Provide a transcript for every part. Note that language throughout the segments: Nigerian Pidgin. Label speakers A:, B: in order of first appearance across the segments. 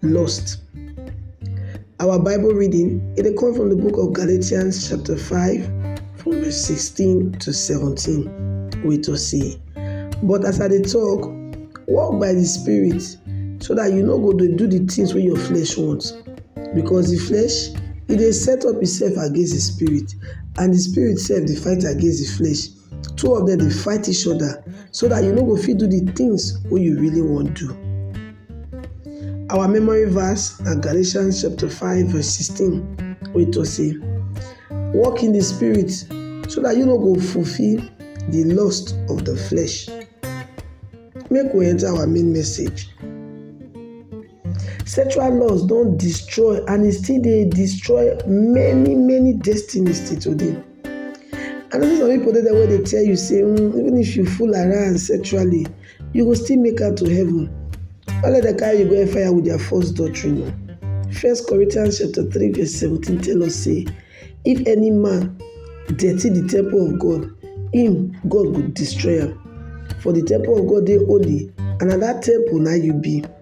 A: lost. Our Bible reading it comes from the book of Galatians chapter 5 from verse 16 to 17 We to see. But as I dey talk, walk by the spirit so that you no go dey do the things wey your flesh want because the flesh e dey set up itself against the spirit and the spirit sef dey fight against the flesh two of dem dey fight each other so that you no go fit do the things wey you really wan do. Our memory verse na Galatians chapter 5 verse 16 wey talk say, Walk in the spirit so that you no go fulfill the lust of the flesh. Make we enter our main message. Sexual laws don destroy and e still dey destroy many many destinies till today. I know sey some pipu dey there wey dey tell you sey even if you fool around sexually you go still make am to heaven no let dem carry you go hell fire with their false doctrine oo. First Corinthian chapter three verse seventeen tell us sey if any man dirty de temple of God im God go destroy am for de temple of God dey holy and na dat temple na im you be.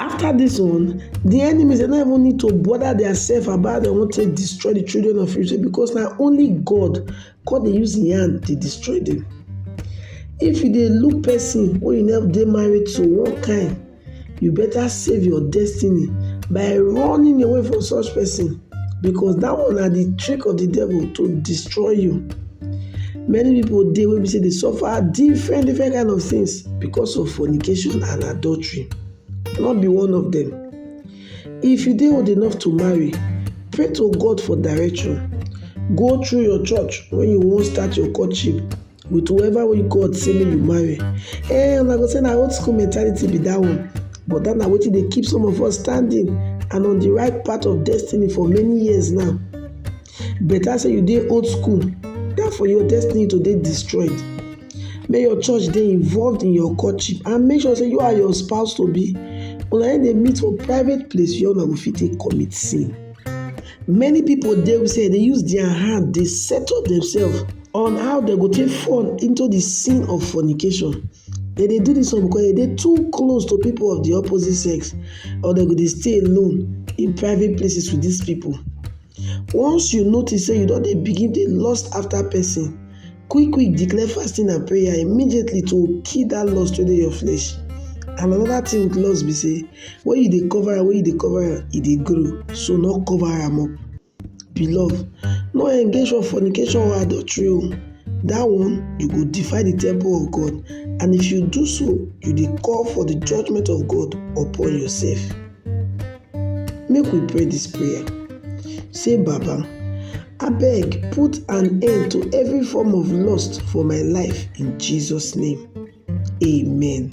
A: After this one, the enemies dem no even need to bother themselves about dem wan take destroy the children of Israel because na only God God dey use im hand dey destroy them. If you dey look person wey you never dey married to one kind, you better save your destiny by running away from such person. because dat one na de trick of de devil to destroy you many pipu dey wey be sey dey suffer different different kind of things because of fornication and adultery no be one of dem if you dey old enough to marry pray to God for direction go through your church when you wan start your courtship with whoever wey God say make you marry. Eh, una go say na old school mentality be that one, but that na wetin dey keep some of us standing and on the right path of destiny for many years now. Better say you dey old school than for your destiny to dey destroyed. Make your church dey involved in your courtship and make sure say you and your spouse to be una dey meet for private place where una go fit take commit sin. Many people dey wey say dey use their hand dey set up themselves on how dem go take fall into the sin of fornication. Dem dey do this one because dem dey too close to people of the opposite sex or dem go dey stay alone in private places with these people. Once you notice say you don dey begin dey lust after person, quick quick declare fasting and prayer immediately to kill that lust wey dey your flesh. And another thing with lust be say. When you dey cover am, when you dey cover am, e dey grow, so no cover am up. Beloved, no engage for fornication or adultery o. That one, you go defile the temple of God, and if you do so, you dey call for the judgment of God upon yourself. Make we pray this prayer. Say, Baba, abeg put an end to every form of lust for my life in Jesus name. Amen.